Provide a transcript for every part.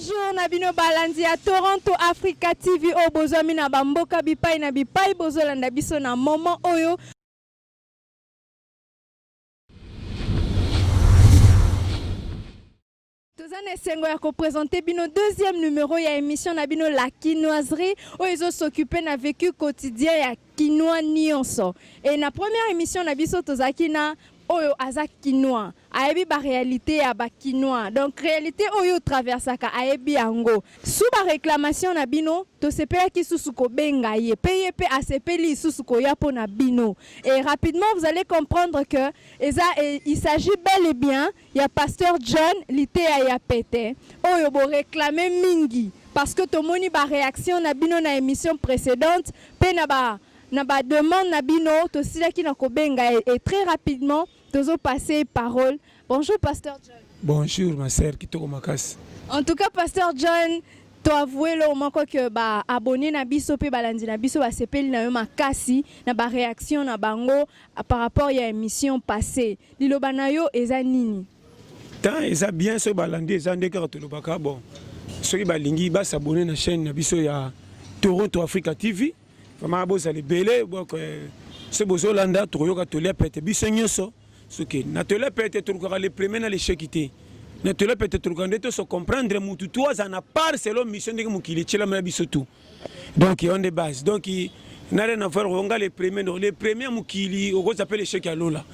Bonjour na bino balandi ya Toronto Africa TV oyo oh, bozwami na bamboka bipai na bipai bozolanda biso na moment oyo toza na esengo ya kopresente bino deuxième numéro ya émission na bino la kinoiserie oyo ezosokipe na vécu quotidien ya Kinois nionso et na première emission na biso tozalaki na oyo aza kinois ayebi ba réalité ya ba kinois donc réalité oyo traversaka ayebi yango sous ba réclamation na bino tosepelaki susu kobenga ye pe ye pe asepeli lisusu koya mpo na bino et rapidement vous allez comprendre que eza il s'agit bel et bien ya pasteur John liteya ya pete oyo bo reclame mingi parce que tomoni ba reaction na bino na emission precedente pe na ba na ba demande na bino tosilaki na kobenga ye et très rapidement tozo passe ye parole bonjour pasteur John. Bonjour ma sœur kitoko makasi. En tout cas pasteur John to avoue eloko moko que ba abonnes na biso pe balandi na biso basepeli na yo makasi na ba reaction na bango Par rapport ya emission passe, liloba na yo eza nini? Temps eza bien soki balandi eza nde kaka tolobaka bon soki balingi ba s'abonner na chaîne na biso ya Toronto Africa TV vraiment bozala ebele donc euh, soki bozolanda tokoyoka tolia pete biso nyonso soki na tolia pete tolukaka le premier na lesheki te na tolia pete tolukaka nde toso comprendre mutu tu azala na part selon mission ndenge mokili etyelama ya biso tu donc on the base donc na rien à faire onga le premier donc le premier mokili okozwa mpe l'échec ya lola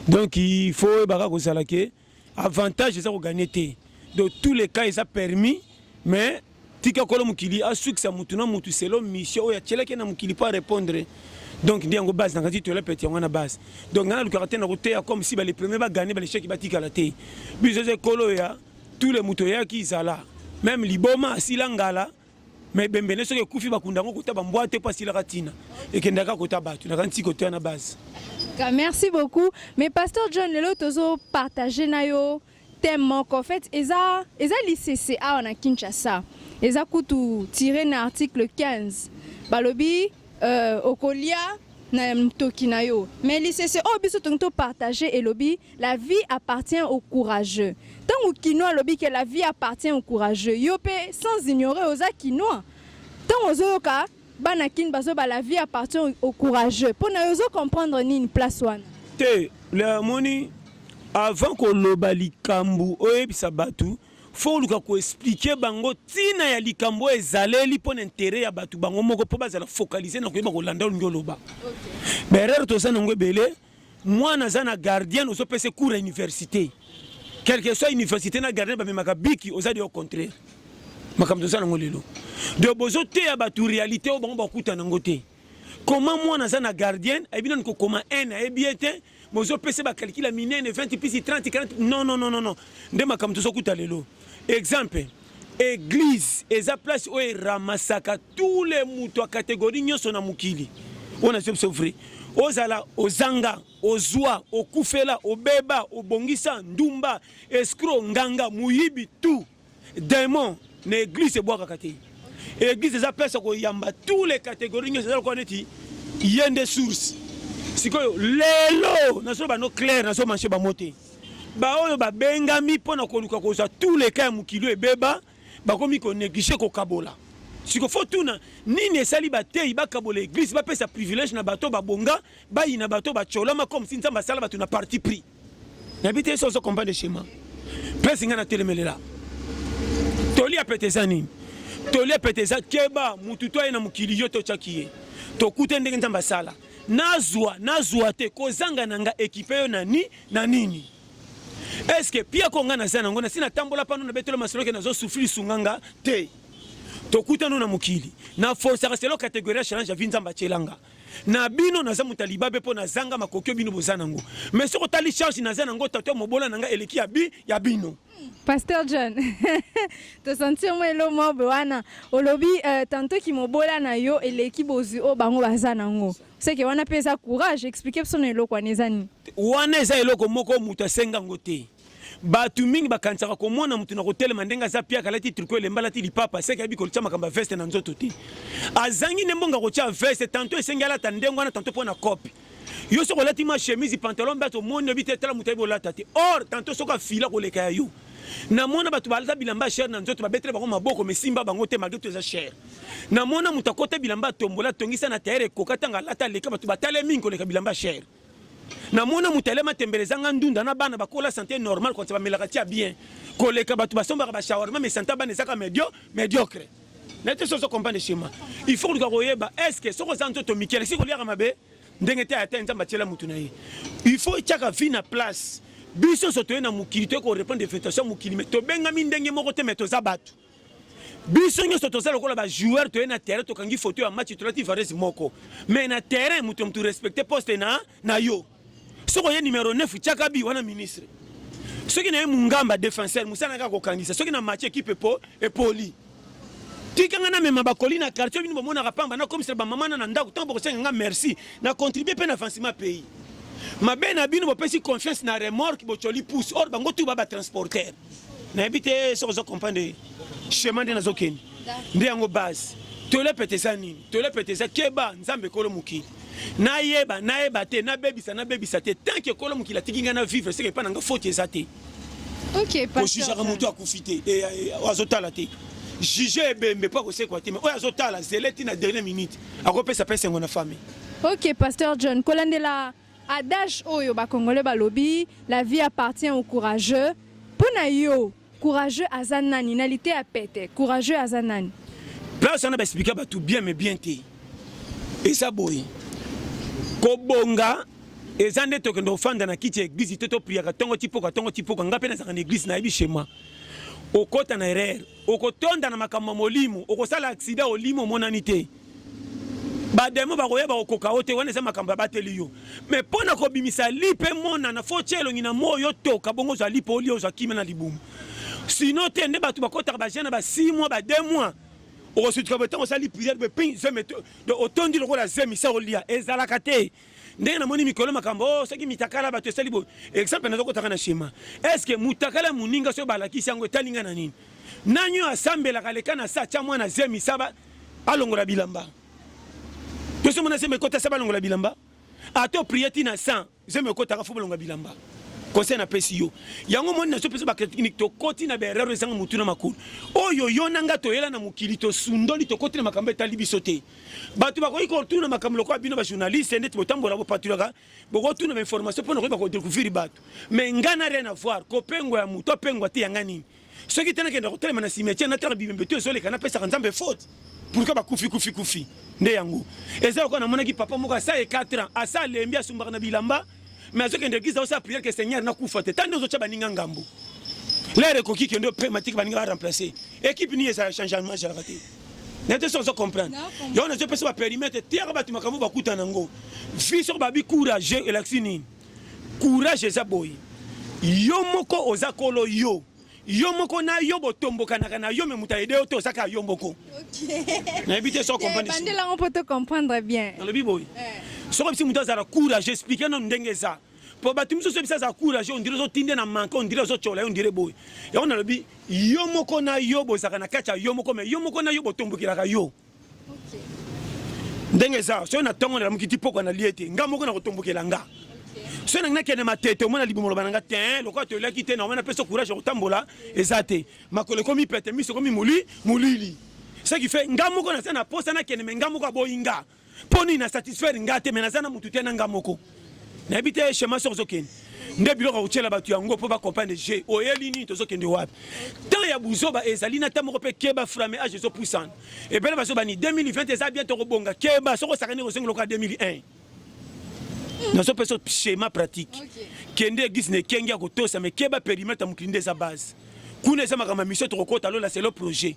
donc il faut oyebaka kozala ke avantage eza koganye te donc tous les cas eza permis mais tika kolo mokili asukisa motu na motu selo mission oyo atyelaki na mokili mpo arépondre donc nde yango base nakati tola pete yango wana base donc ngai nalukaka te na koteya comme si bale premier bagane balecheki batikala te biso eza ekolo ya tous les moto oyaki zala meme liboma asila ngala mais bembele soki ekufi bakunda yango kota bambwa te mpo asilaka ntina ekendaka kota bato na kanti kotoya na base merci beaucoup mais pasteur john lelo tozopartage na yo thème moko en fait eza, eza lisese awa na kinshasa eza kutu tire na article 15 balobi euh, okolia na mtoki na yo mais lisese oyo biso tongi to partager elobi la vie appartient au courageux ntango kinois alobi ke la vie appartient au courageux yo mpe sans ignorer oza kinois ntango ozoyoka bana kin bazoba la vie appartient au courageux mpo na yo ozo comprendre nini place wana te le amoni avant koloba likambo oyebisa bato faut oluka ko expliquer bango tina ya likambo oyo ezaleli mpo na intere ya bato bango moko mpo bazala focalise na koyeba kolanda olingi oloba berere toza nango ebele mwana aza na gardien ozopesa cours ya université quelque soit université na gardien bamemaka biki oza de au contraire makambo toza nango lelo donc bozoteya bato réalité oyo bango bakutana yango te Comment moi naza na gardienne ayebi nanu kokoma 1 ayebi ye te bozopesa bakalikila minene 20 pisi 30 40 non non non non nde makambo tozokuta lelo exemple eglise eza place oyo eramasaka tous les moto ya kategorie nyonso na mokili oyo nazwi biso vrai ozala ozanga ozwa okufela obeba obongisa ndumba escro nganga moyibi tout Demon na eglise ebwakaka te. Eglise eza place ya koyamba tous les catégories nyonso, eza lokola neti ye nde source. Sikoyo lelo nazoloba no clair, nazo manche bango te, baoyo babengami mpo na koluka kozwa tous les cas ya mokili oyo ebeba, bakomi koneglige kokabola siko fo tuna nini esali bateyi bakabola eglise bapesa privilège na bato babonga bayina bato bacolama comme si nzambe asala bato na parti pris nayebi te so ozo comprendre schéma place ngai natelemelela toli ya pete eza nini toli ya pete eza keba mutu to aye na mokili yo totyaki ye tokute ndenge nzambe asala nazwa nazwa te kozanga na nga ekipe yo na ni na nini eske pia ko nga naza nango nasi natambola pano na betelo masolo ke nazo souffrir sunga nga te tokutano na mokili na force ya selo categorie ya challenge ya vie nzambe atyelanga na bino naza moto ya libabe mpo nazanga makoki oyo bino boza nango mai soki otali charge naza nango tato ya mobola na ngai eleki ya bi ya bino Pasteur John, to sentir moi lo mobe wana olobi euh, tantôt ki mobola na yo eleki bozwi o bango baza nango. C'est que wana pesa courage expliquer biso na eloko wana eza nini. Wana eza eloko moko moto asenga ngo te. Batu mingi bakanisaka komona mutu na kotelema ndenge aza piaka alati triko elemba alati lipapa seke ayebi kotia makambo ya veste na nzoto te azangi nde mbongo akotia veste tanto esengi alata ndenge wana tanto mpo na kope yo soki olati ma chemise pantalon mpe omoni oyebi te tala moto ayebi olata te or tanto soki afila koleka ya yo namona bato balata bilamba cher na nzoto babetela bango maboko mesimba bango te malgre to eza cher namona moto akota bilamba atombola atongisa na tayere ekoka ntango alata aleka bato batale mingi koleka bilamba cher na mona moto alema tembele ezanga ndunda na bana bakola sante normal kotsa bamelaka tia bien koleka bato basombaka bashawarma mais sante ya bana ezaka medio mediocre na te soso comprendre chema il faut koluka koyeba est ce que soki oza nzoto mike alekisi koliaka mabe ndenge te ata nzambe atyela motu na ye il faut etyaka vie na place biso nyonso toye na mokili toye korepondre invitation ya mokili me tobengami ndenge moko te me toza bato biso nyonso toza lokola ba joueur toye na terrain tokangi foto ya match tolati varese moko mais na terrain moto moto respecte poste na, na yo soki oye numero 9 tiaka bi wana ministre soki na ye mungamba defenseur mosala kaka kokangisa soki na match ekipe epo epoli tikanga namema bakoli na quartier bino bomonaka pamba nakomisela bamama na na ndako ntango bokosenga nga merci na contribue mpe na avancement pays mabe na bino bopesi confiance na remorque bocoli pousse or bango tu ba batransporter nayebi te soki ozo comprendre chemin nde nazokende nde yango base tolepete eza nini tolepete eza keba nzambe ekolo mokili nayeba nayeba te nabebisa nabebisa te tanke ekolo mokili atiki ngai na vivre seke epai na ngai foti eza te kojijaka motu akufi te eh, eh, eh, azotala te juge ebembe mpo akosekwa te me oyo azotala zele ti na dernière minute akopesa mpe esengo na famille ok pasteur john kolandela Adage oyo ba congolais balobi la vie appartient au courageux. Pona yo courageux aza nani na lite ya pete? Courageux aza nani? Place wana ba expliquer batu bien mais bien te. Eza boye. Kobonga eza nde tokende ofanda na kiti ya eglise te topriaka ntongo tipoka ntongo tipoka ngai mpe nazalaka na eglise nayebi shema okota na erreur okotonda na makambo ya molimo okosala aksida olimo omonani te ba demo bakoyeba kokoka yo te wana eza makambo abateli yo me mpo na kobimisa lipa emonana fo tie elongi na moi otoka bongo ozwa lipa olia ozwa kimia na libumu sino te nde bato bakotaka baje na ba 6 mois ba 2 mois okosutuka botango osali priere bepin zemi otondi lokola zemi sa olia ezalaka te ndenge namoni mikolo makambo oh, soki mitakala bato esali boye exemple nazokotaka na shema estce motakala moninga soki balakisi yango etali ngai na nini nani oyo asambelaka leka na sa tya mwana zemi saba alongola bilamba tosi mona zemi ekota saba alongola bilamba ato priye ti na sa zemi ekotaka fo balongola bilamba conseil napesi yo yango moni nazopesa bachrinique tokoti na baerreur ezanga motu na makolo oyo yo na ngai toyela na mokili tosundoli tokoti na makambo etali biso te bato bakoki kotuna makambo lokola bino bajournaliste ndeti botambola bopatulaka bokotuna bainformation mpo na koyeba kodecouvrir bato mais ngai na rien avoir kopengwa ya moto apengwa te yanga nini soki te nakenda kotelema na cimetière natala bibembe to ezoleka napesaka nzambe faute pourkui bakufi kufi kufi nde yango eza lokola namonaki papa moko asala ye 4 ans asa alembi asumbaka na bilamba mais azokende eglise aosala priere ke seigneur nakufa te tande ozotya baninga ngambo lere ekoki kende prematike baninga baremplace ekipe nini ezala changement ezalaka te nete so ozo comprendre yango nazopesa baperimetre tiaka bato makambo bakuta na yango vi soko babi courage elakisi nini courage eza boye yo moko oza kolo yo yo moko na yo botombokanaka na yo me moto aide yo te oza kaka yo moko nayebi te so comprendebandelango mpo to comprendre bien nalobi boye eh. soki bisi moto azala courage explike nano ndenge eza mpo bato misusu ebisa aza courage ondire ozotinde na manke ondire ozotyola ye ondire boye yango nalobi yo moko na yo bozalaka na kati ya yo moko me yo moko na yo botombokelaka yo ndenge eza soki na ntongo nalamuki ti pokwa nalie te nga moko nakotombokela nga soki nangi nakende matete omona libumu loba na nga te eh, lokola toyelaki te naomana pesa courage ya kotambola eza te makolo ekomi pete miso ekomi moli molili ce qui fait nga moko naza na posa nakende me nga moko aboyi nga mpo nini na satisfaire nga te me naza na motu te na nga moko nayebi te shema soki ozokende nde biloko ya kotyela bato yango mpo bacomprendre je oyeli nini tozokende wapi temps ya buzoba ezali na ta moko mpe keba frame age ezopusana ebele bazobani 2020 eza bien tokobonga keba soki osakani kozongi lokola 2001 nazopesa schéma pratique kende eglise na ekenge ya kotosa me keba perimetre ya mokili nde eza base kuna eza makambo ya misio tokokota lola selo projet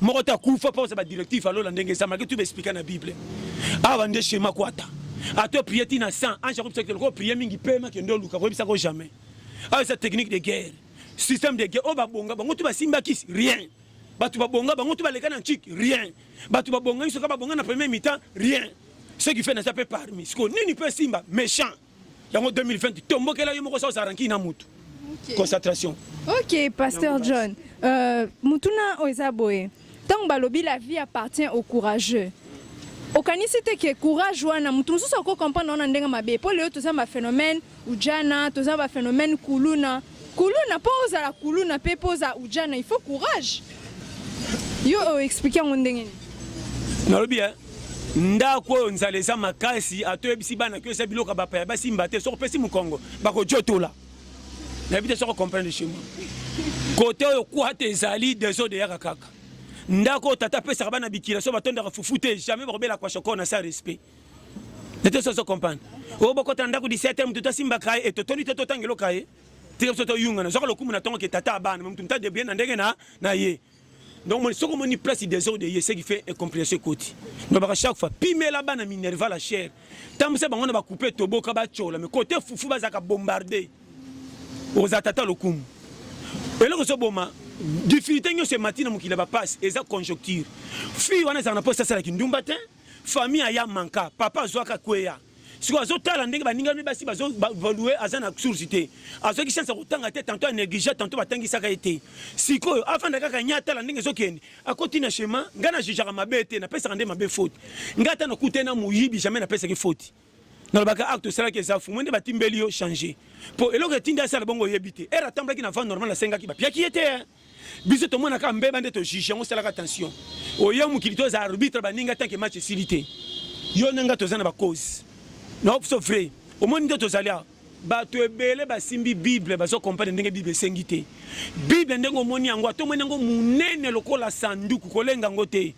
moko te akufa mpo ba directive ya lola ndenge ezamaki tu baexplika na bible awa nde shema kwata ato eprie ti na 100 ange akobisa kite loko prie mingi pema kende oluka koyebisa ko jamais awa eza technique de guerre système de guerre oyo babonga bango tu basimbaki rien bato babonga bango tu baleka na ntiki rien bato babonga nso ka babonga na premier mitan rien ce qui fait naza mpe parmi sikoyo nini mpe esimba méchant yango 2020 tombokela yo moko saoza ranki na mutu concentration ok pasteur john euh, mutuna oyo eza boye ntango balobi la vie appartient au courageux okanisi te ke courage wana moto mosusu ako comprendre wana ndenge mabe mpo lelo toza baphénomène ujana toza baphénomène kuluna kuluna mpo ozala kuluna mpe mpo oza ujana il faut courage yo oexplike yango ndenge nini nalobi ndako oyo nzala eza makasi ata oyebisi bana kio eza biloko ya bapa ya basimba te soki opesi mokongo bakojotola nayebi te soki ocomprendre chez moi kote oyo kwata ezali desode eyaka kaka ndako oyo tata apesaka bana bikila so batondaka fufu te jamais bakobela kwa shoko na sa respect nete so ozo comprendre oyo bokota ndako 17 moto tosimbaka ye etotoli te totanga eloka ye tika biso toyungana zwaka lokumu na ntongo ke tata abana moto moto adebrie na ndenge na ye donc moni soki omoni place desordre eye ce qui fait incomprehension ekoti nalobaka chaque fois pimela bana minerva la chaire tambusa bango na bakupe toboka batyola me kote fufu bazalaka bombarde okozala tata lokumu eloko ezoboma difficulté nyonso emati na mokili ya bapasi eza conjoncture fille wana ezalaka na mposa asalaki ndumba te famille aya manka papa azwaka kweya sikoyo azotala ndenge baninga mpe basi bavalue aza na source te azwaki chance ya kotanga te tanto anéglige tanto batangisaka ye te sikoyo afanda kaka nye atala ndenge ezokende akoti na chemin ngai na jijaka mabe te napesaka nde mabe faute ngai ata nakute na moyibi jamais napesaki faute nalobaka acte osalaki eza fumu nde batimbeli yo change mpo eloko etindi asala bongo oyebi te ere atambulaki na vent normal asengaki bapiaki ye te Biso tomona kaka mbeba nde to juge yango salaka attention. Oya mokili to za arbitre ba ninga tant que match esili te. Yo na nga toza na ba cause. Na opso vrai. Omoni nde tozali awa. bato ebele basimbi bible bazokompane ndenge bible esengi te bible ndenge omoni yango ata omoni yango monene lokola sanduku kolenga yango te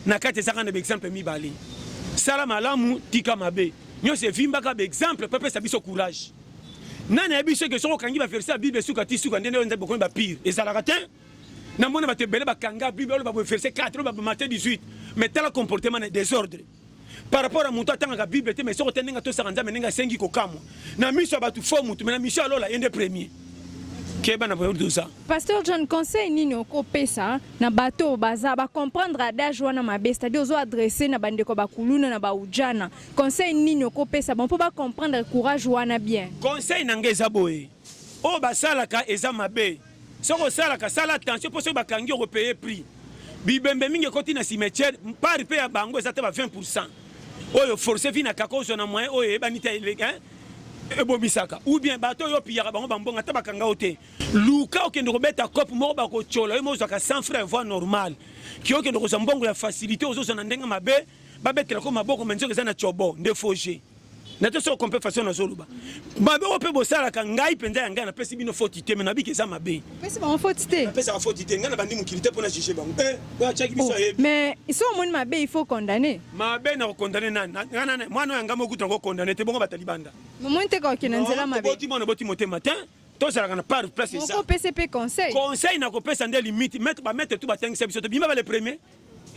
na kati ezaka na baexemple mibale sala malamu tika mabe nyonso evimbaka baexemple mpe pesa biso courage nani ayebi soki soki okangi baverse ya bible suka ti suka ndenge nzambe bokomi bapire ezalaka te namona bato ebele bakanga bible oloba boye verse 4 oloba bamate 18 mais tala comportement na desordre par rapport à moto atangaka bible te mais soki ote ndenge atosaka nzambe ndenge asengi kokamwa na miso ya bato fo motu mai na miso ya lola ye nde premier keba na doza pasteur john conseil nini okopesa na bato oyo baza bacomprendre adage wana mabe c'est-à-dire ozo adresse na bandeko bakuluna na baujana conseil nini okopesa bango mpo bacomprendre courage wana bien conseil na ngai eza boye oyo basalaka eza mabe Soki osalaka sala attention mpo soki bakangi yo okopeye prix. Bibembe mingi ekoti na cimetière part mpe ya bango eza te ba 20 pourcent oyo force vi na kaka ozwa na moyen oyo eyebani te ebomisaka ou bien bato oyo opiyaka bango bambongo ata bakanga yo te luka okende kobeta cope moko bakotyola yo mozwaka 100 frais ya voie normale ki okende kozwa mbongo ya facilité ozozwa na ndenge mabe babetela ko maboko manzoka eza na cobo nde foge na te soko kompe façon nazoloba mabe oyo mpe bosalaka ngai mpenza ya ngai napesi bino foti te me nabiki eza mabe pesaka foti te ngai na bandi mokili te mpo na juge bango eh, atyaki biso oh, ayebi mais so omoni mabe il faut condamne mabe na kokondane nani mwana oyo ya ngai mokutu yango okondane te bongo batali banda momoni te kokende nzela mabe boti mwana boti motema te tozalaka na par place eza opesi mpe conseil conseil na kopesa nde limite bamaitre tu batangisa biso te bima ba le premier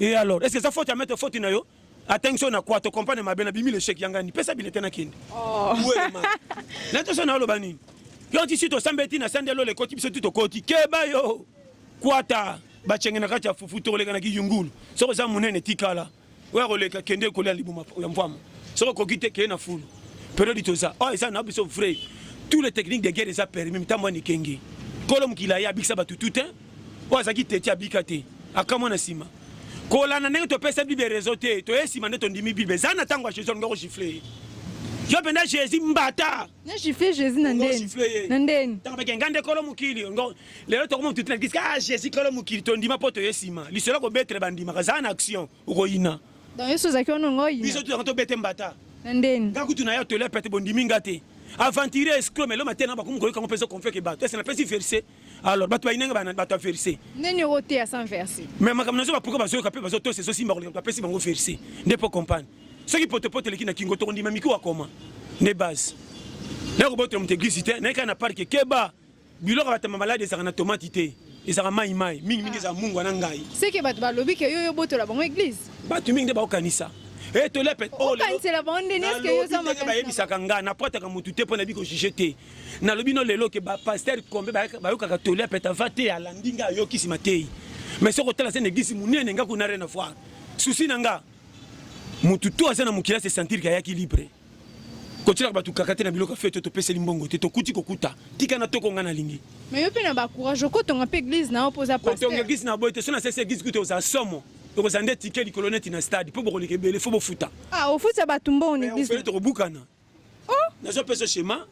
e alors est ce que eza foti ya maitre foti na yo atangi so na kwa to compane mabe na bimi lechec ya ngani pesa bilete na kende oh. nato so naoloba nini yo ti si tosambeli ti na sande lola ekoti biso ti tokoti keba yo kwata bacenge na kati ya fufu tokoleka na kiyungulu soki oza monene tikala oyo akoleka kende kolia libuma ya mvwama soki okoki te keye na fulu periode toza oyo oh, eza na biso vrai tous les techniques de guerre eza permis mitambo ya nikenge kolo mokili aye abikisa bato tout te oyo azalaki teti abika te akamwa na nsima kolanda ndenge topesa bible reseau te toye nsima nde tondimi bible eza na ntango ya jesus alinga kogifle ye yo mpenza jésus mbata nagifle jésus na ndeni na ndeni ntango bakenga nde kolo mokili lelo tokoma motuti na kiska ah, jésus kolo mokili tondima mpo toye nsima lisolo kobetre bandimaka eza na action okoyina donc yesu ozalaki wana ongo oyina biso tozalaka tobete mbata na ndeni nga kutu na ye atole pete bondimi nga te aventurier escro melo matena bakomi koyoka ngo mpenza konfeke bato ese napesi verset alors bato bayinanga bana bato ya verse nini okoteya sans verse mais makambo nazoba pourkoi bazoyoka mpe bazotosa ezosimba koleka bapesi bango verse nde mpo compagne soki potopoto eleki na kingo tokondima mikuwa koma nde base naye kobotela moto eglise te naye kaka na parke keba biloko batama maladi ezalaka na tomati te ezalaka mai mai mingi mingi ezalaka mungu wana ngai seke bato balobi ke yo yobotola bango eglise bato mingi nde bakokanisa etoleyebisaka eh, oh, ngai na protaka motu te mpo nayebi kojuge te nalobi no lelo ke ba pasteur kombe bayokaka toli ya peta va te alandi nga ayoki sima te mais soko tala se negisi munene nga kuna rien à voir souci na nga mutu to aza na mokila se sentir ke ayaki libre kotyelaka bato kaka te na biloko ya fete topeseli mbongo te tokuti kokuta tika na toko ngai nalingi mais yo mpe na bacourage okotonga mpe eglise na yo mpo oza kotonga eglise na boye te so nasesi eglise kuta oza somo tokozala nde tike likolo neti na stade mpo bokoleka ebele fo bofuta ah, ofuta bato mbongo na eglise tokobukana oh! nazo pesa schéma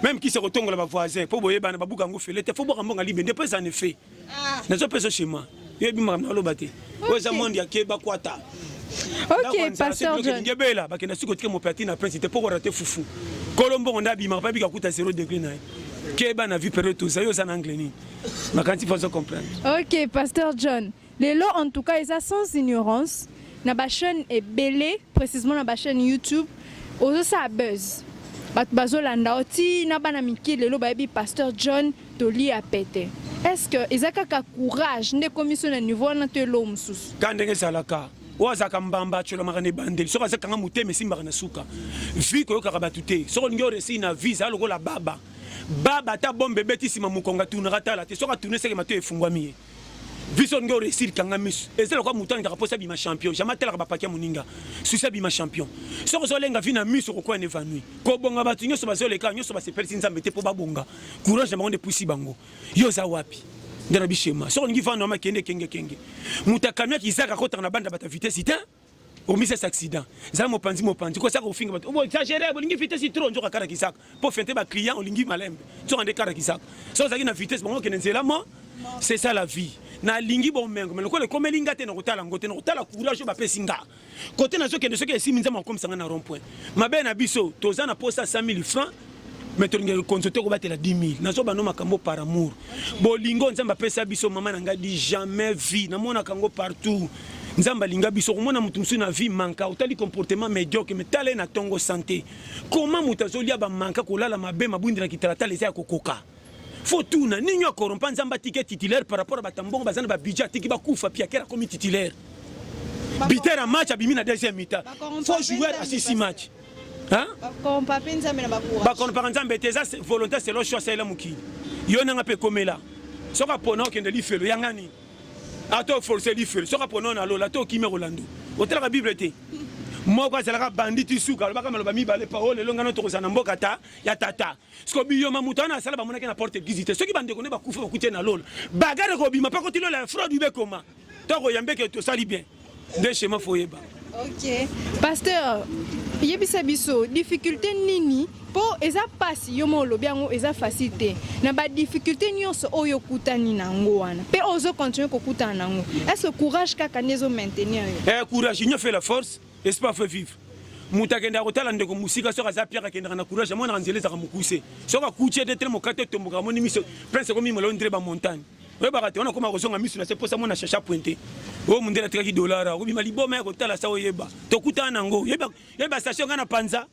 même kisa kotongola ba voisins po boyebana babuka yango fele te fo bwaka mbongo libe nde po eza en effet ah. nazo pesa schéma yo yebi makambo naloba te oyo eza monde ya keba kwata ok pasteur john ngebela bakenda siko tike mopati na prince te poko rate fufu kolo mbongo nda bima pa bika kuta 0 degré na ye keba na vie période toza yo oza na angle nini makanti fazo comprendre ok pasteur john Lelo en tout cas eza sans ignorance na ba chaîne ebele précisément na ba chaîne YouTube ozosala buzz bato bazolanda yo ti na bana mike lelo bayebi pasteur John toli ya pete est-ce que eza kaka courage nde ekomi so na niveau wana to eloo mosusu ka ndenge ezalaka oyo azalaka mbamba atyolamaka na ebandeli soki aza kanga motema esimbaka na suka vi koyokaka bato te soki olingi oresi na vi zala lokola baba baba ata bombe ebeti nsima mokongo atunaka tala te soki atuni eseke mato efungwami ye vision ndio réussir kanga misu eza lokola moto alingaka mposa bima champion jamais atalaka bapaki ya moninga susi abima champion soki ozolenga vi na misu okokuwa na évanoui kobonga bato nyonso bazoleka nyonso basepelisi nzambe te mpo babonga courage na bango nde epusi bango yo oza wapi nde na bishema soki olingi vanda wama kende kengekenge moto akamia kizaka akotaka na banda bata vitesi te omisa sa accident zala mopanzi mopanzi kosaka kofinga bato obo exagere bolingi vitesse trop nzoka kara kisaka mpo fente ba client olingi malembe nzoka nde kara kisaka so ozalaki na vitesse bango okende nzela mo c'est ça la vie nalingi bomengo me lokola ekomeli nga te nakotala yango te nakotala courage oyo bapesi nga kote nazokende soki esimi nzambe akomisa nga na rond point mabe na biso toza na posa 100 000 francs mais tolingaka konzo te kobatela 10 000 nazoba no makambo par amour bolingo nzambe apesa biso mama na ngai di jamais vie namonaka yango partout nzambe alinga biso okomona moto mosusu na vie manka otali comportement médiocre me tala ye na ntongo sante koma moto azolia bamanka kolala mabe mabwindi na kitalatala eza ya kokoka fo tuna nini yo akorompa nzambe atiki titulaire par rapport ya bato mbongo baza na babidje atiki bakufa piakere akomi titulaire bitera match abimi na deuxième mita fo joueur asisi match bakompaka nzambe te eza volonté selo cho asalela mokili yo nanga mpe ekomela soki apona okende lifelo yanga nini ata oforce lifelo soki apona oyo na lola to okimi kolando otalaka bible te moko azalaka bandi ti suka alobaka maloba mibale pa oyo lelo ngano tokozala na mboka ta ya tata siko biyoma moto wana asala bamonaki na porte eglise te soki bandeko nde bakufa bakuti na lola bagare kobima mpe koti lola ya fraude ibe ekoma toko yambe ke tosali bien nde shema foyeba ok pasteur yebisa biso difficulté nini mpo eza mpasi yo moko olobi yango eza facile te na badifficulté nyonso oyo okutani na yango wana mpe ozo continue kokutana na yango est-ce que courage kaka nde ezo maintenir yo eh, courage union fait la force espoir fait vivre moto akendaka kotala ndeko mosika soki aza piaka akendaka na courage amonaka nzela ezaka mokuse soki akuti ete tele mokate etomboka amoni miso prince ekomi molao ndire bamontagne oyebaka te wana okoma kozonga miso na se mposa mona chacha pointe oyo mondele atikaki dolar okobima liboma ya kotala sa oyeba tokutana nango yeba station ngai na panza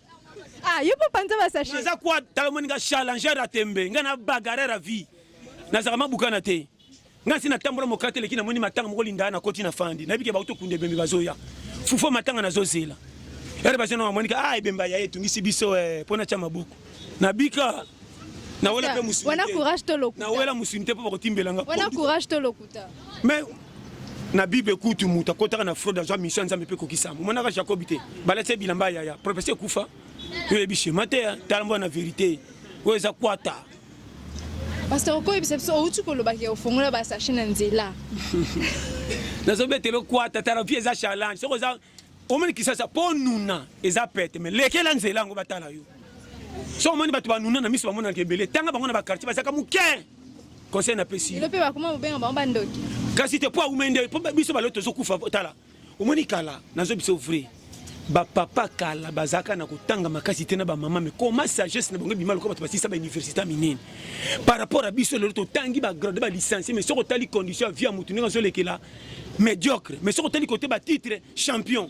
ah, yo mpo panza basashe naza kwa tala omoni nga challenger ya tembe ngai na bagarere ya vie nazalaka mabukana te ngai nsi natambola mokate eleki namoni matanga moko lindaa nakoti na fandi nayebi ke bauti okunda ebembe bazoya fufo matanga nazozela ere bazonanga monika a ah, ebemba ya etungisi biso eh, mpo natya maboko Na bika na wela pe musuni. Wana courage to lokuta. Na wela musuni te po bakotimbela nga. Wana courage to lokuta. Mais na bible kutu moto akotaka na fraude azwa mission ya nzambe mpe ekokisama omonaka jacobi te balati ye bilamba ya yaya propesi ekufa yo oyebi shema te tala mboya na verité oyo eza kwata pasteur okoyebisa biso outi kolobaki ofongola basashe na nzela nazobetela okwata tala vie eza challenge soki oza omoni kisasa po nuna eza pete me lekela nzela yango batala yo so omoni bato banuna na miso bamonanaka ebele tanga bango na bakartier bazalaka moke conseil napesi kasi te po aumai nde po biso balo tozokufa tala omoni kala nazo biso vrai bapapa kala bazalaka na kotanga makasi te na bamama me koma sagesse na bango ebima lokola bato basisa bauniversité minene par rapport ya biso lelo totangi bagrade balicencie me soki otali condition ya vie ya motu ndenge azolekela Mediocre mais soki otali kote ba titre champion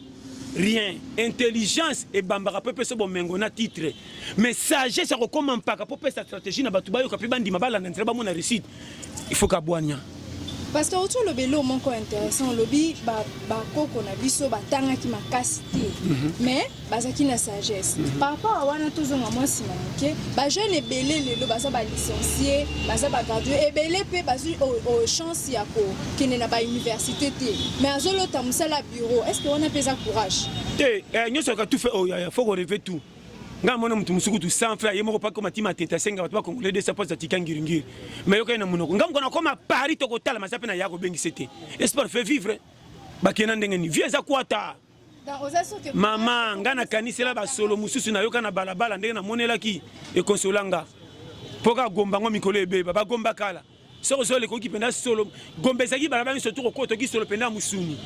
rien intelligence ebambaka mpe pesa bomengo na titre mais sagesse ya kokoma mpaka mpo pesa stratégie na bato bayoka mpe bandima balanda nzela bamona réussite il faut kabwania pasteur oti olobi elo moko intéressant olobi bakoko na biso batangaki makasi te mhm. mais bazalaki na sagesse mhm. par rapport à wana tozonga mwa nsima moke bajeune ebele lelo baza balicencie baza bagradue ebele mpe bazwi chance ya kokende na bauniversité te mais azolota mosala bureau est ce que wana mpe eza courage te eh, nyonso yaka tufe oyo oh, fo koreve tout ngai mona moto mosuku tu sans frère ye moko paki omati matete asenga bato bakongole desa mpo atika ngiringiri mai yokani na monoko ngai mokona akoma paris tokotala maza mpe na ya kobengisa te espoir fait vivre bakenda ndenge nini vie eza kwata mama nga nakanisela basolo mosusu nayoka na balabala ndenge namonelaki ekonsola nga mpo kaka gomba yango mikolo ebeba bagomba kala soki ozwa lekoki mpenza solo gomba ezalaki balabala nyonso to kokota oki solo mpenza mosuni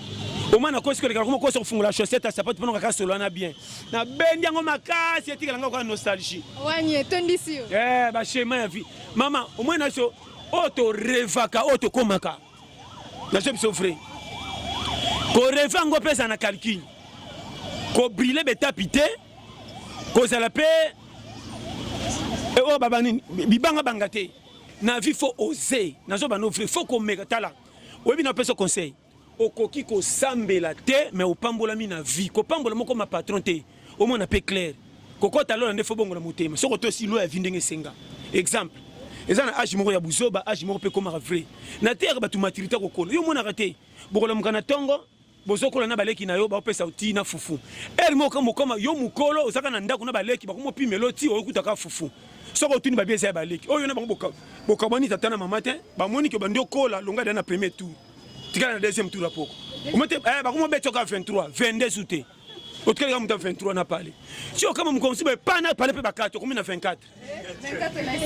omwana akosi kolekala koma kosa kofungola chaussette ya sapatu mpona kaka solo wana bien nabendi yango makasi etikala nga kaka nostalgie wani etondisi yo eh, bashema ya vie mama omwana so oyo torevaka oyo tokomaka nazo biso vrai koreve yango mpe eza na calcul kobrile betapi te kozala mpe eh, oyo oh, baba nini bibanga banga te na vie fo ose nazo bano vrai fo komeka tala oyebi na opesa conseil okoki kosambela te me opambolami na vie kopambola moko ma patron te omona pe clair kokota lola nde fo bongo na motema soko to si loya vi ndenge esenga exemple eza na age moko ya buzoba age moko pe komaka vrai na teyaka bato maturité kokola yo omonaka te bokolamuka na tongo bozokola na baleki na yo baopesa oti na fufu ere moko mokoma yo mokolo ozaka na ndako na baleki bakomopimelo ti oyokutaka fufu soko otuni babi eza ya baleki oyo na bango bokabwani tata na mama te bamoni ke bandi okola longa da na premier tour tikala na deuxième tour ya poko eh, bakomobetoka 23 22 ou te otikali kaka moto ya 23 na pale sio kama mokomisi boye pa na pale mpe bakati okomi na 24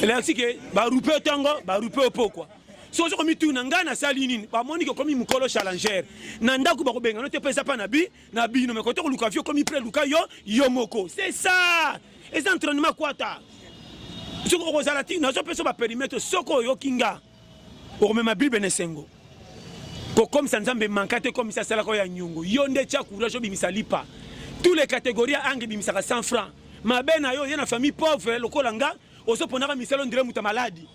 elakisi ke barupe otongo barupe opokwa so ozo komituna ngai nasali nini bamoni ke okomi mokolo challenger na ndako bakobengana te mpe eza mpa na bi na bino me kote koluka vi okomi pre luka yo yo moko c'est ça eza entraînement kwata soki okozala ti nazopesa baperimetre soki oyoki nga okomema bible na esengo kokomisa nzambe manka te komisa asalaka oyo ya nyongo yo nde tya courage obimisa lipa tous les catégories ya ange ebimisaka 100 franc mabe na yo ye na famille pauvre lokola nga ozoponaka misala ondire moto ya maladi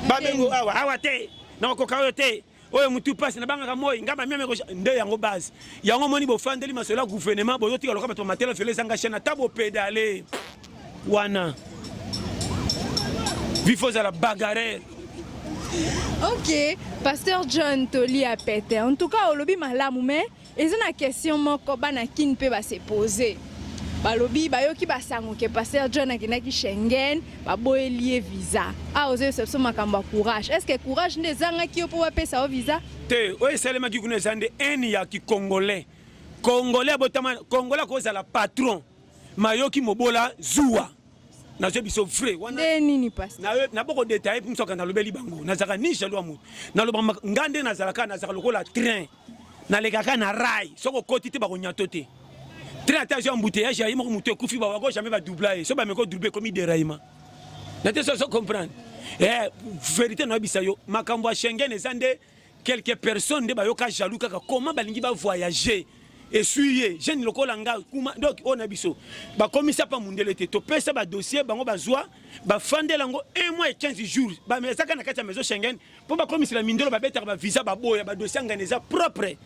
babengo awa awa te nakokoka oyo te oyo mutu pasi na bangaka moi nga ba meme nde yango base yango moni bofandeli masolo ya gouvernement bozotika loka bato matela fele ezanga chaine ata bopedale wana vifo ozala bagarere ok pasteur john toli ya pete en tout cas olobi malamu mais Eza na question moko bana kin mpe ba se poser balobi bayoki basango ke pasteur john akendaki schengen baboyeli ye visa awa ozoyebisa biso makambo ya courage est ce que courage nde ezangaki yo mpo bapesa yo visa te oyo esalemaki kuna eza nde ene ya kikongolais kongolais abotama kongolais akozala patron mayoki mobola zuwa nazwi biso vrai wana nini pasi naboko detaille mpe msoka nalobeli bango nazalaka ni jaloux ya moto naloba nga nde nazalaka nazalaka lokola train nalekaka na rai soki okoti te bakonyato te train ata azwi embouteillage aye moko moto ekufi bawako jamais badoubla ye so bameki odouble ekomi deraillement na te soso comprendre eh, verité noyebisa yo makambo ya schengen eza nde quelques personnes nde bayoka jaloux kaka comment balingi bavoyage esui ye jeune lokola nga kuma donc oyo na biso bakomisa mpa mondele te topesa badossier bango bazwa bafandela yango 1 mois et 15 jours bamezaka na kati ya maison schengen mpo bakomisela mindelo babetaka bavisa baboya badosi ya ngana eza propre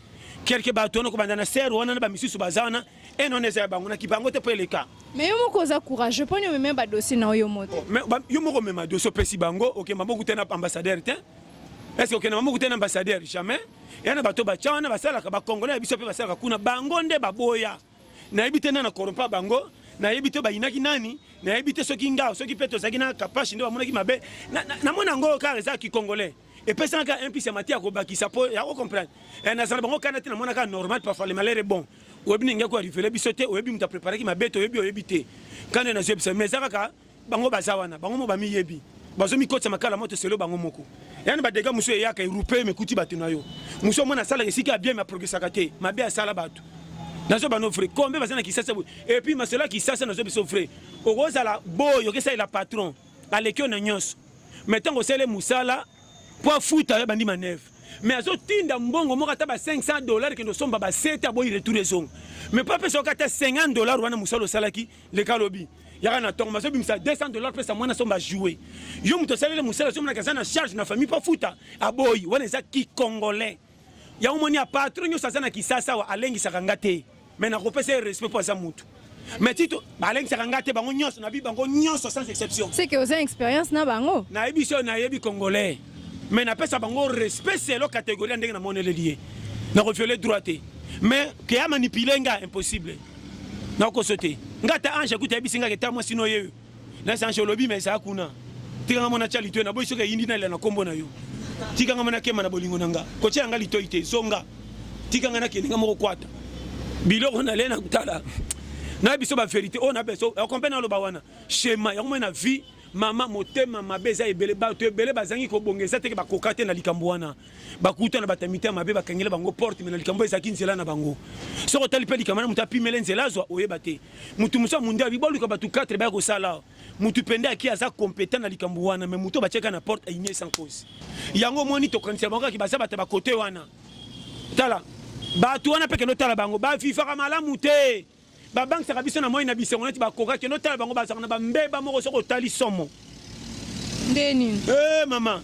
kelke bato wana kobanda na ser wana na bamisusu baza wana ene wana eza ya bango na kibango te mpo eleka mais yo moko oza courageux mponi omema badosi na oyo moto oh, yo moko omema dosi opesi bango okende maboko te na ambassadeur te eske okende maboko te na ambassadeur jamais ya na bato batya wana basalaka bacongolais ya biso mpe basalaka kuna bango nde baboya nayebi te nani na corrompa bango nayebi te bayinaki nani nayebi te soki ngao soki mpe tozalaki na kapashi nde bamonaki mabe namoni yango kaka eza kikongolais epesaka kaka impisi ya mati ya kobakisa mpo ya kocomprendre eh, nazala bango kana te namonaka normal parfois le malere bon oyebi ndenge ko arivele biso te oyebi moto apreparaki mabe te oyebi oyebi te kanda nazwi ebisa mais eza kaka bango baza wana bango mo bamiyebi bazomikotisa makala moto selo bango moko yani badega mosusu eyaka erupe mekuti bato na yo mosusu omona asalaka esika ya bien aprogesaka te mabe asala bato nazo bano vrai kombe baza na kisasa boye epuis masolo ya kisasa nazo biso vrai okozala boyo okesalela patron aleki yo na nyonso mai ntango osele mosala mpo afuta yo abandi maneve mais azotinda mbongo moko ata ba 500 dollar kende osomba ba sete aboyi retour ezonga mais mpo apesa yoka ata 50 dollar wana mosala osalaki leka lobi yaka na tongo mazo bimisa 200 dollars pesa mwana somba jouer yo moto asaleli mosala somo na kaza na charge na famille pafuta aboyi wana eza ki congolais yango moni ya patron nyonso aza na kisasa wa alengisaka nga te mais nakopesa ye respect mpo aza motu mais tito balengisaka nga te bango nyonso nabi bango nyonso sans exception seke oza expérience na bango nayebi so nayebi congolais mais napesa bango respect selo catégorie ya ndenge namoneleli ye nakoviole droit te mais ke amanipule nga impossible na koso te nga ta ange akuta yebisi nga keta mwasi no yeyo na sange olobi mais eza kuna tika nga mona tia litoi na boyi soki eyindi nalela na kombo na yo tika nga mona kema na bolingo na nga kotia nga litoi te zonga tika nga nakende nga moko kwata biloko nalie na kotala na biso ba verité oyo na biso okompe na loba wana shema yango mona na vie mama motema mabe eza ebele bato ebele bazangi kobonga eza teke bakoka te na likambo wana bakuta na bato ya mitema mabe bakangela bango porte me na likambo ezalaki nzela na bango soki otali mpe likambo na moto apimele nzela azwa oyeba te motu mosu ya mundu abi boluka bato 4 baya kosala motu mpende aki aza competent na likambo wana me moto batiaka na porte ainie sans cause yango omoni tokanisela bango kaki baza bato ya bakote wana tala bato wana mpe kende otala bango bavivaka malamu te babangisaka biso na moi na bisengo neti bakoka kende otala bango bazalaka na bambeba moko soki otali somo nde nini hey, eh, mama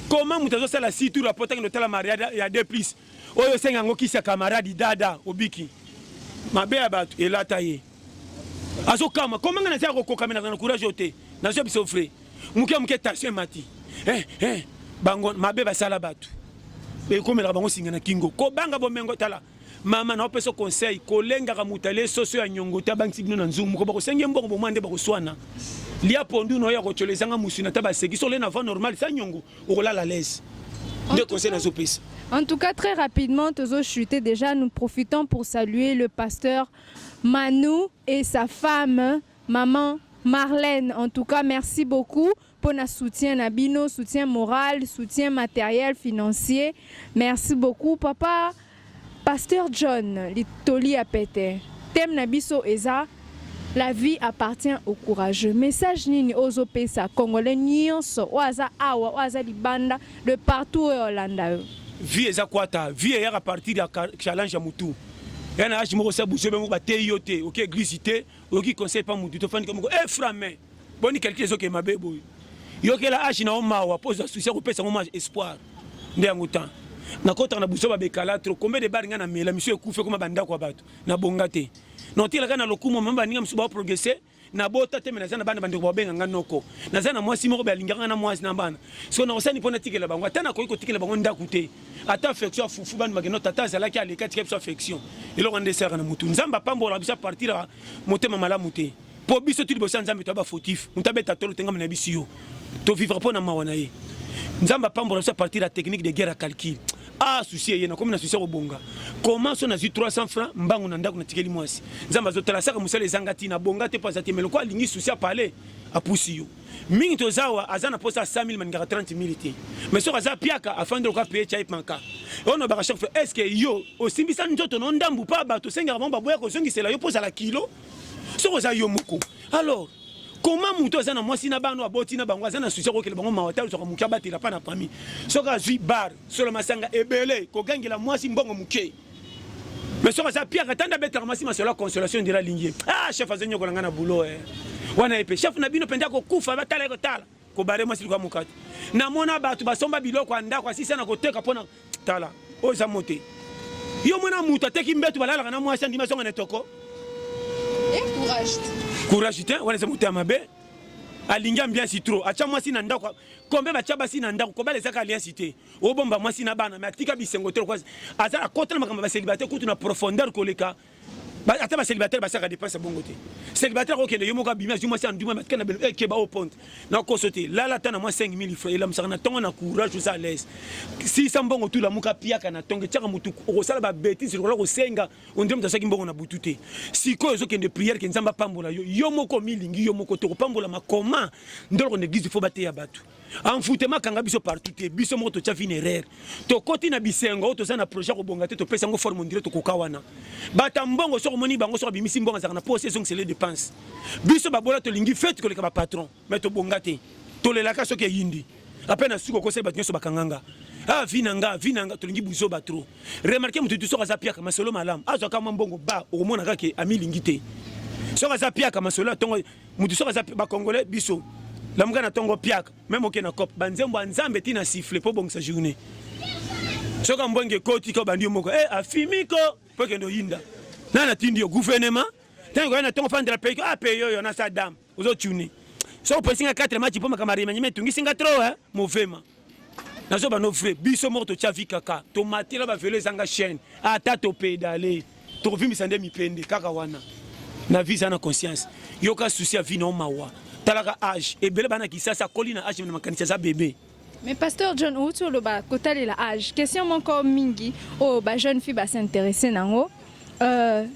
koma moto azosala situ rapota kende otala mariade ya de plus oyo osenga yango kisi ya kamaradi dada obiki mabe ya bato elata ye azokama koma ngai nazala kokokamelaka na courage oyo te nazwa biso frais moke moke tension emati eh, eh, bango mabe basala bato ekomelaka bango singa na kingo kobanga bomengo tala mama na opesa conseil kolengaka moto alie soso ya nyongo te abangisi bino na nzungu moko bakosengi mbongo bomwa nde bakoswana lia pondu na oyo akotyola ezanga mosuni ata baseki so ole na va normal sa nyongo okolala lese nde conseil nazopesa En tout cas, très rapidement, Tozo Chuté, déjà, nous profitons pour saluer le pasteur Manou et sa femme, maman Marlène. En tout cas, merci beaucoup. pona soutien na bino soutien moral soutien materiel financier merci beaucoup papa pasteur john litoli ya pete teme na biso eza la vie appartient au courageux message nini ozo pesa congolais nyonso oyo aza awa oyo aza libanda de partout oyo olanda yo vie eza kwata vie eyaka partir ya challenge ya mutu ya na age moko sa buzobe moko bateyi yo te oke eglise te oyoki conseil pa mutu tofandi komoko e eh, frame boni calcul ezokee mabe boye yokela age na yo mawa mpo ozwa susi ya kopesa yango mwa espoir nde yango temps nakotaka na buso babekala tro combien de bar ngai na mela misu ekufi ekoma bandako ya bato nabonga te notelaka na lokumu mama baninga misu baprogresse nabota te me naza na bana bandeko babenga ngai noko naza na mwasi moko be alingaka ngai na mwasi na bana so nakosani mpo natikela bango ata nakoki kotikela bango ndako te ata affection ya fufu bani bakenda tata azalaki aleki atika biso affection eloko wana nde esalaka na motu nzambe apambolaka biso apartir ya motema malamu te mpo biso tu liboso ya nzambe toya bafautif moto abeta tolo tengama na biso yo tovivre mpo na mawa na ye nzambe apambola biso apartir ya technique de guerre ya calcul ah susi eye nakomi na susi ya kobonga koma so nazwi 300 franc mbangu na ndako natikeli mwasi nzambe azotala asaka mosala ezanga ntina bonga te mpo aza te meloko alingi susi apale apusi yo mingi toza awa aza na posa ya 100 000 maningaka 30 000 te mais soki aza piaka afandi lokola peye type manka oyo nabaka chaque fois estce yo osimbisa nzoto na ndambu mpa bato osengaka bango baboya kozongisela yo mpo ozala kilo soki oza yo moko alors koma moto aza na mwasi na bana aboti na bango aza na susi akokela bango mawa te azwaka moke abatela mpa na pami soki azwi bar solo masanga ebele kogangela mwasi mbongo moke mais soki aza piaka tanda abetaka masi masolo ya consolation ndira alingi ye ah chef azo nyokola ngai na boulot eh. wana ye mpe chef na bino mpenza kokufa batala ye kotala kobare mwasi likuwa mokati namona bato basomba biloko ya ndako asisa na koteka mpo na tala oyo eza mote yo mwana moto ateki mbeto balalaka na mwasi andimi azonga na etoko courage te wana eza moto ya mabe alingi ambiansi trop atya mwasi na ndako kombe batya basi na ndako kobala ezaka aliansi te obomba mwasi na bana me atika bisengo te lokola aza akota na makambo ya baselibate kutu na profondeur koleka ata baselibataire basaka depense ya bongo te selibataire akokende yo moko abimi azwi mwasi anduma matika na belo ekeba eh, o ponte na koso te lala ata na mwa 5000 fra elamusaka na ntongo na courage oza alaise sisa mbongo tu lamuka piaka na ntongo etiaka motu okosala babetise lokola kosenga ondire moto asaki mbongo na butu te sikoyo ozokende priere ke nzambe apambola yo yo moko omilingi yo moko te okopambolama koma ndoloko na eglise fo bateya bato enfutema akanga biso partout te biso moko totya vine erreur tokoti na bisengo oyo toza na projet ya kobonga te topesa yango forme ondire tokoka wana bata mbongo soki omoni bango soki abimisi mbongo azalaka na posi ezongisele dépense biso babola tolingi fete koleka bapatron mai tobonga te tolelaka soki eyindi ape na suki okosai bato nyonso bakanganga ah vi na nga vi na nga tolingi buzoba trop remarke moto tu soki aza piaka masolo malamu azwaka mwa mbongo ba okomona kaka amilingi te soki aza piaka masolo ya ntongo mutu soki aza ba congolais biso lamuka na tongo piaka meme oke na cop banzembo ya nzambe ti na siffle mpo obongisa journée soki ambwenge ekoti ko bandi yo moko e afimi ko mpo ekende oyinda nani atindi yo gouvernement ntango koya na ntongo fandela pei a pei oyo na sa dame ozotuni soki opesi nga 4 match mpo makambo arimanyima etungisi nga tro eh? movema nazo bano vrai biso moko totya vi kaka tomatela bavelo ezanga chaîne ata topedale tokovimbisa nde mipende kaka wana na vi eza na conscience yoka susi ya vi nao mawa talaka age ebele bana kisasa akoli na age na makanisi aza bebe Mais pasteur John outi oloba kotalela age question moko mingi oyo oh, ba jeune fille basinteresse nango euh,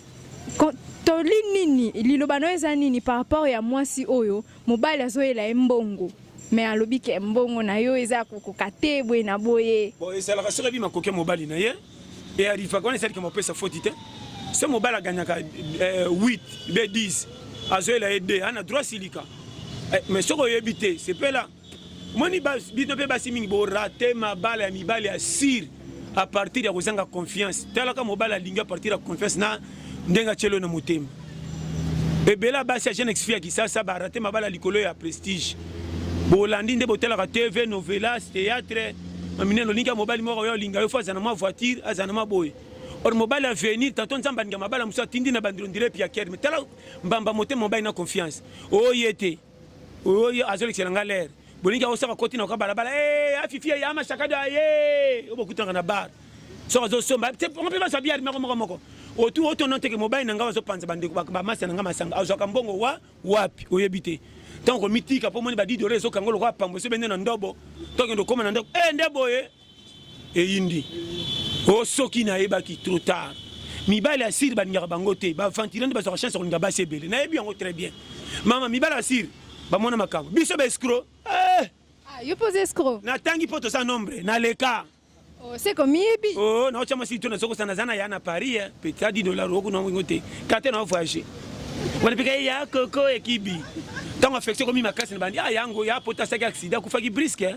toli nini liloba no eza nini par rapport ya mwasi oyo mobali azoyela ye mbongo me alobi ke mbongo na yo eza kokoka te boye na boye bon ezalaka soki abi makoki ya mobali na ye e arrivaka wana esalika mopesa foti te se mobali aganyaka 8 eh, be 10 azoyela ye 2 ana droit silika eh, mais soki oyebi te sepela moni bino mpe basi mingi borate mabala ya mibali ya sire a partir ya kozanga confiance talaka mobali alingi a partir ya confiance na ndenge atyelo na motema ebela basi ya jeune exfi ya kisasa barate mabala likolo ya prestige bolandi nde botalaka tv novelas théâtre maminene olingi ya mobali moko oyo olinga yo fo azala na mwa voiture azala na mwa boye or mobali avenir tanto nzambe alinga mabala mosusu atindi na bandiro ndire piakere me tala mbamba motema mobali na confiance oye te oyo azolekisela nga lere bolingi akosaka koti na kwa balabala eh, afifi ya mashakado aye oyo bokutanaka na bar soki azosomba ngo mpe bazwa biare moko moko moko otu otono nteke mobali na ngai bazopanza bandeko bamasa na ngai masanga azwaka mbongo wa wapi oyebi te ntango komitika mpo omoni badidore ezokanga lokola pambo esobe nde na ndobo tokende okoma na ndako e eh, nde boye eyindi o oh, soki nayebaki trop tard mibali ya siri balingaka bango te baventile nde bazwaka chance ya kolinga basi ebele nayebi yango très bien mama mibali ya siri bamona makambo biso baescro eh! ah, yo mpe oza escro natangi mpo toza nombre naleka oh, seko miyebi o oh, naotya mwasi to nazokosa naza na ya na paris eh. petit adi dollar okuna yango te karte na ovoyage wana mpe kaye ya koko ekibi ntango affection ekomi makasi na bandi a ah, yango ya pota asaki aksida akufaki briske eh.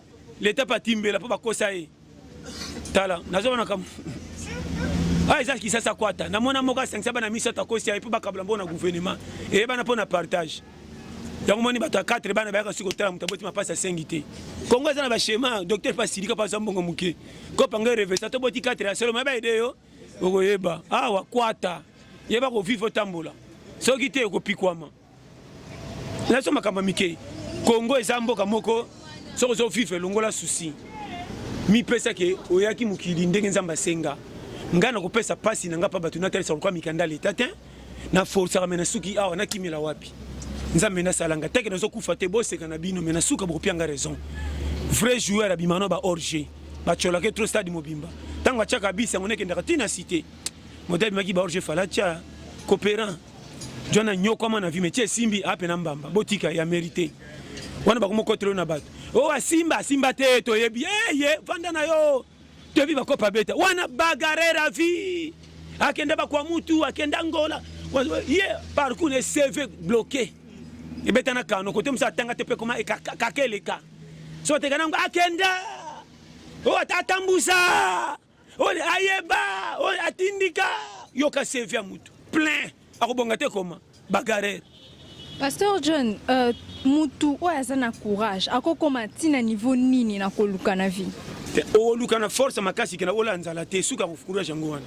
leta pe atimbela mpo bakosa ye tala nazomona kam oyo ah, eza kisasa kwata na mwana moko asangisa bana misato akosi ya ye mpo bakabula mpo na gouvernement eyebana mpo na partage yango moni bato ya 4 bana bayaka soki kotala moto aboti mapasi asengi te kongo eza na bachema docteur mpe asilika mpo aza mbongo moke kopanga revesa toboti 4 ya solo mayeba ede yo okoyeba awa ah, kwata yeba kovivre otambola soki te okopikwama nazo makambo mike Congo eza mboka moko soki ozo vivre longola souci mipesa ke oyaki mokili ndenge nzambe asenga ngai nakopesa mpasi na ngai mpa bato natalisa lokola mikanda leta te na forsaka me na suki awa nakimela wapi nzambe nasala ngai teke nazokufa te boseka na bino me na suka bokopia ngai raison vrai joueur abima no ba orge bacolaka trop stade mobimba ntango atyaka bisi yango nekendaka ntina site moto abimaki ba orge falatia cooperant Jwana nyokwama na vie mais esimbi ape na mbamba botika ya merite wana bakoma kotelo na bato o oh, asimba asimba te toyebi eye vanda na yo toyebi bakopa beta wana bagarera vie akenda bakwa mutu akenda ngola ye parcours ne cv bloqué ebeta na kano kote mosu atanga te mpe koma kaka eleka so oteka nango akenda o oh, ata atambusa oyo ayeba oyo atindika yoka sevi ya mutu plein akobonga te koma bagarere pasteur john uh, mutu oyo aza na courage akokoma ntina niveau nini na koluka na vie oluka na force makasi kena ola nzala te suka courage yango wana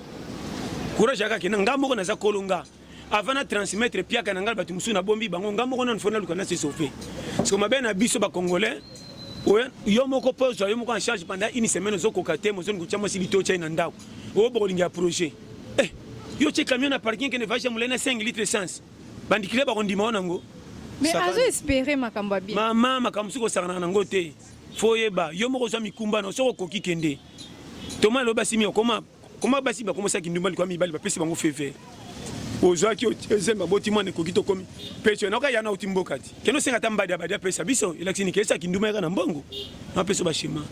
courage yaka kena nga moko naza kolonga avant na transmettre piaka na ngai bato mosusu nabombi bango ngai moko nanu fo naluka na se sauve siko mabe na biso bacongolais yo moko mpo ozwa yo moko en charge pendant une semaine ozokoka te mozoni kotya mwasi lito otyai na ndako oyo bokolinga ya projet eh, yo otye camion na parking kende vage ya molai na 5 litre essence bandikile bakondima yo nango mais azo espere makambo ya bien mama makambo mosusu kosakanaka nango te fo oyeba yo moko ozwa mikumba na soki okoki kende toma elobi asimi okoma Koma basi bakoma sa kindumba likwa mibali bapesi bango feve ozwaki ozembe aboti mwana ekoki tokomi peso naoka yana uti mboka ti kende osenga ata mbadi abadi apesa biso elakisi nike esa kindumba yaka na mbongo napesa bashema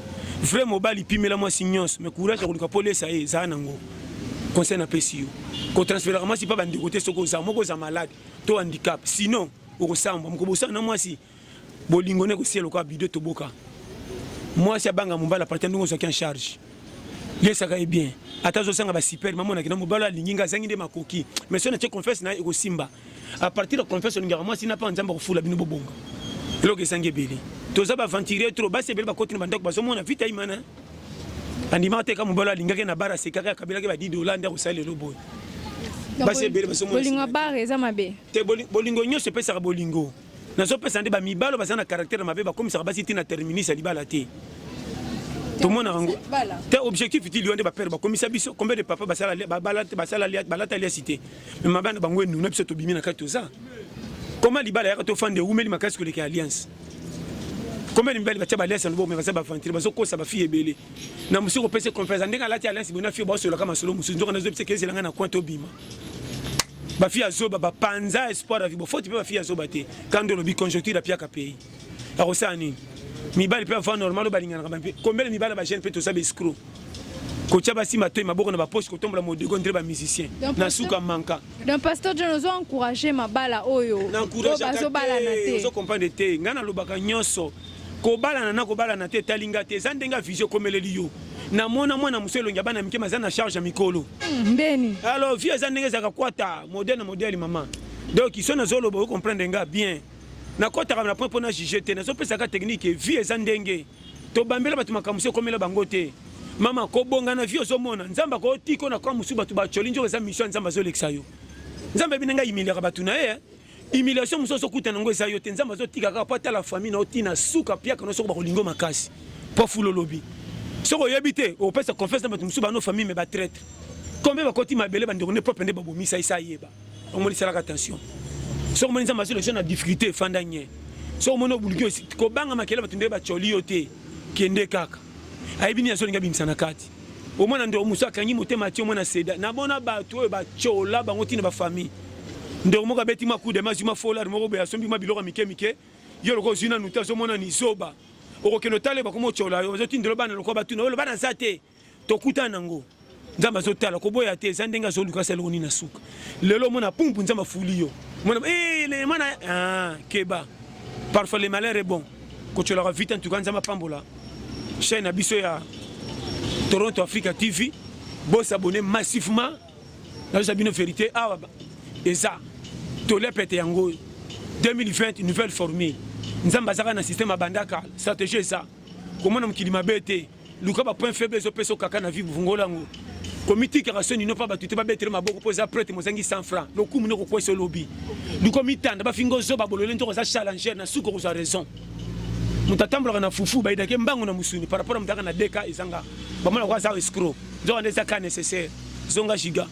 vrai mobali pimela mwasi nyonso me courage ya koluka mpo lesa ye ezala nango conseil napesi yo kotransferaka mwasi mpa bandeko te soki oza moko oza malade to handicap sinon okosambwa mokobosana na mwasi bolingo ne kosiya lokola bido toboka mwasi abanga mobali apata ndenge ozwaki en charge liesaka ye bien ata azosanga basiper mamonaki na mobali alingi nga azangi nde makoki mais soki natie confiance na ye ekosimba a partir ya confiance olingaka mwasi na mpa nzambe akofula bino bobonga eloko ezangi ebele toza baaventurier tro basi ebele bakoti na bandako bazomona vita imana andimaka te ka mobali alingaki na bara asekaka akabelaki ba 10 dola nde akosala lelo boye basi ebele bazomonabolingo bare eza mabe te bolingo nyonso epesaka bolingo nazopesa nde bamibalo baza na caractère ya mabe bakomisaka basi ti na terminus ya libala te tomona yango te objectif ti liwa nde bapere bakomisa biso combien de papa balata liasi te me mabe na bango enuna biso tobimi na kati toza koma libala yaka tofanda ewumeli makasi koleka ya alliance combien de mibali batya baliasi yango me baza baventire bazokosa bafille ebele na mosuku opesi confiance ndenge alati alliance boye na fille baosololaka masolo mosusu nzoka nazoyebisa ekezelanga na coin tobima ba fille ya zoba ba panza espoir ya vibo faute pe ba fille ya zoba te quand on lobi conjoncture ya piaka pays ya kosala nini mibali pe avant normal balinganaka ba mpe combien de mibali ba jeune pe toza ba escroc kotia basi matoi maboko na bapoche kotombola modego ndre bamusicien na suka manka donc pasteur john ozo encourage mabala oyo bazobalana te ozo comprendre te ngai nalobaka nyonso kobalana na kobalana te etali nga te eza ndenge ya visio ekomeleli yo na mona mwana mosu elongi ya bana mike maza na charge ya mikolo hmm, ndeni alors vie eza ndenge ezalaka kwata modele na modele mama donc iso nazoloba oyo comprendre nga bien nakotaka na point mpo na juge te nazopesaka technique vie eza ndenge tobambela bato makambo so ekomela bango te mama kobonga na vie ozomona nzambe akotika na kwa mosusu bato bacoli nzoko eza mission ya nzambe azolekisa yo nzambe abina ngai imiliaka bato na ye eh. humiliation mosusu ozokuta nango eza yo te nzambe azotika kaka mpo atala famille na yo ntina suka mpiaka no soko bakolingo makasi mpo fula olobi soki oyebi te opesa confiance na bato mosusu bano famille me batraitre kombe bakoti mabele bandeko nde propre nde babomisa esa ayeba omoni salaka attention soki omoni nzambe azolekisa na difficulté efanda nye soki omoni obuluki osi kobanga makele bato nde bacoli yo te kende kaka ayebi nini azolinga bimisa na kati omwana ndeko mosusu akangi motema atio mwana seda na bona bato oyo batyola bango ntina bafamille ndeko moko abeti mwa kude mazwi mwa folare moko boye asombi mwa biloko ya mike mike yo lokola ozwi nanu te azomona ni zoba okokende otala yo bakoma otyola yo bazotindela bana lokola batuna oyo bana aza te tokutana nango nzambe azotala koboya te eza ndenge azoluka asala eloko nini na suka lelo omona pumpu nzambe afuli yo mwana eh, mwana ah, keba parfois le malheur est bon kotyolaka vita ntuka nzambe apambola chaîne na biso ya toronto africa tv bosabone massivement nazosa bino verité awa eza tole pete yango oyo 2020 nouvelle formule nzambe azaka na système abandaka stratégie eza komona mokili mabe te luka ba point faible ezopesa okaka na vie buvungola yango komitikaka so nino mpa bato te babetele maboko mpo eza prete mozangi 100 franc lokumu noko kwesa olobi luka omitanda bafinga ozoba bolole ntoko oza challenger na suka okozwa raison moto atambolaka na fufu bayidake mbango na mosuni par rapport a moto aka na deka ezanga bamona ko aza escro nzoka nde eza ka nécessaire zonga giga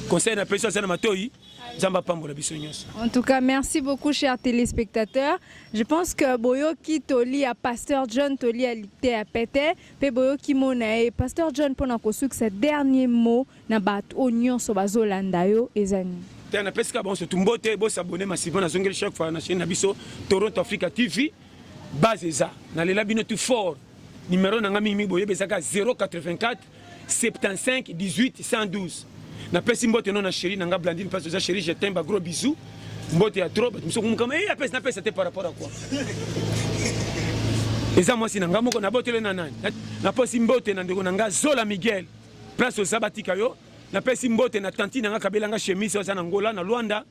conseil na pesi aza na matoi nzambe apambola biso nyonso en tout cas merci beaucoup cher téléspectateur je pense que boyoki toli ya pasteur john toli ya lite ya pete mpe boyoki mo na ye pasteur john mpo na kosukisa dernier mot na bato oyo nyonso bazolanda yo eza nini te napesi ka bango sotu mbote bosabone masivo nazongeli chaque fois na chaine na biso toronto africa tv base eza nalela bino tu fort numero na ngai mingimingi boyebi ezaka 084 75 18 112 napesi mbote no na sheri na nga blandine mpasi oza sheri jetin ba gros bisou mbote ya trop bato mosuku mokama e eh, apesi napesa te par rapport à quoi eza mwasi na nga moko nabotele na nani napesi mbote na ndeko na nga zola miguel place oza batika yo napesi mbote na tanti na nga kabela nga chemise oza na ngola na lwanda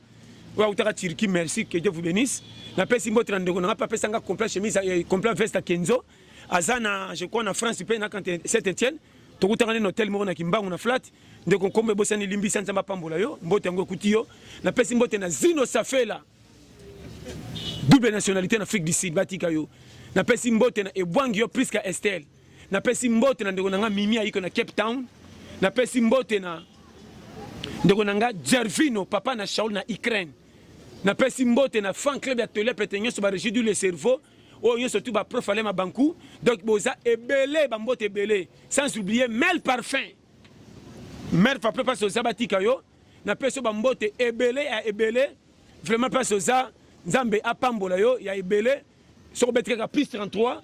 oyo autaka turki merci que dieu vous bénisse napesi mbote na ndeko na nga mpe apesa nga complet chemise eh, complet veste ya kenzo aza na je crois na France pe na Saint Etienne tokutaka nini hotel moko na kimbangu na flat ndeko nkombo ebosani limbisa nzambe apambola yo mbote yango ekuti yo napesi mbote na zino safela double nationalité na afrique du sud batika yo napesi mbote na ebwangi yo priska estelle napesi mbote na ndeko na nga mimi ayiko na cape town napesi mbote na ndeko na nga gervino papa na shaul na ukraine napesi mbote na fan club ya tolep ete nyonso baregie du le cerveau oyo nyonso tu baprof ale mabanku donc boza ebele bambote ebele sans oublier mel parfum mel parfum mpasi oza batika yo na peso bambote ebele ya ebele vraiment mpasi oza nzambe apambola yo ya ebele soki obeti kaka plus 33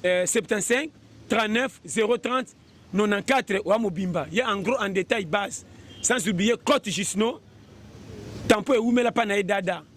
euh, 75 39 030 94 oya mobimba ye en gros en détail base sans oublier cote jusno tampo ewumela mpa na ye dada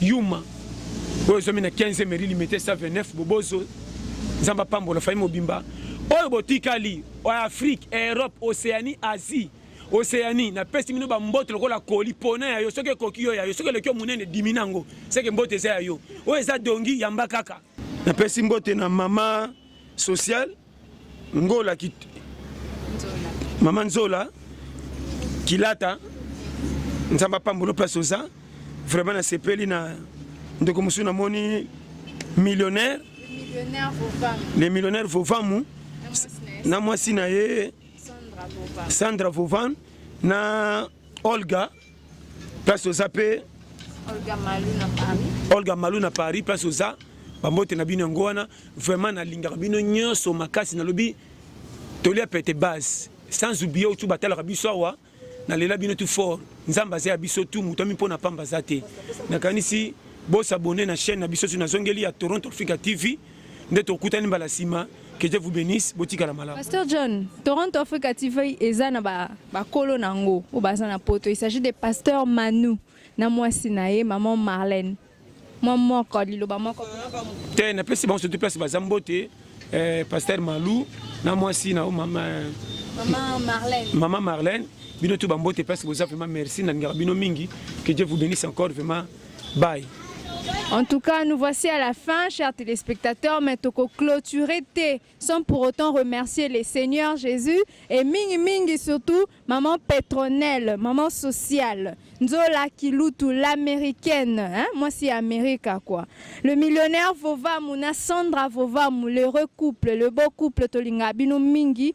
Yuma oyo zomi na 15 meri limete 129 bobozo nzambe apambola fami mobimba oyo botikali oya afrique europe océanie asie océanie napesi bino bambote lokola koli pona ya yo soki ekoki yo ya yo soki eleki yo monene dimi na yango seke mbote eza ya yo oyo eza dongi yamba kaka napesi mbote na mama sociale Ngola ki Mama Nzola Kilata Nzamba pambulo place oza vraiment na sepeli na ndeko musu na moni millionnaire le millionnaire Vovamu na mwasi na ye Sandra Vovan na Olga place oza pe Olga Malou na Paris Olga Malou na Paris place oza bambote na bino yango wana vraiment nalingaka bino nyonso makasi nalobi tolia pete base sans oublie otu batalaka biso awa nalela bino tu fort nzambe aza ya biso tu moto ami mpo na pamba aza te nakanisi bosabone na chaîne na biso soki nazongeli ya toronto africa tv nde tokutani mbala nsima que Dieu vous bénisse botikala malamu Pasteur John Toronto Africa TV eza na ba bakolo nango oyo baza na poto il s'agit de Pasteur Manu na mwasi na ye maman Marlène mwa moko liloba moko te napesi bango surtout place baza mbote eh, Pasteur Malu na mwasi na yo mama Maman Marlène. Maman Marlène, bino tout bambote place boza vraiment merci na ngara bino mingi que Dieu vous bénisse encore vraiment Bye. En tout cas, nous voici à la fin, chers téléspectateurs, mais toko clôturer T sans pour autant remercier les seigneurs Jésus et Mingi Mingi surtout maman Petronelle, maman sociale, Nzola Kilutu, l'américaine, hein? moi c'est America quoi. Le millionnaire Vovamu, na Sandra Vovamu, l'heureux couple, le beau couple Tolinga Bino Mingi,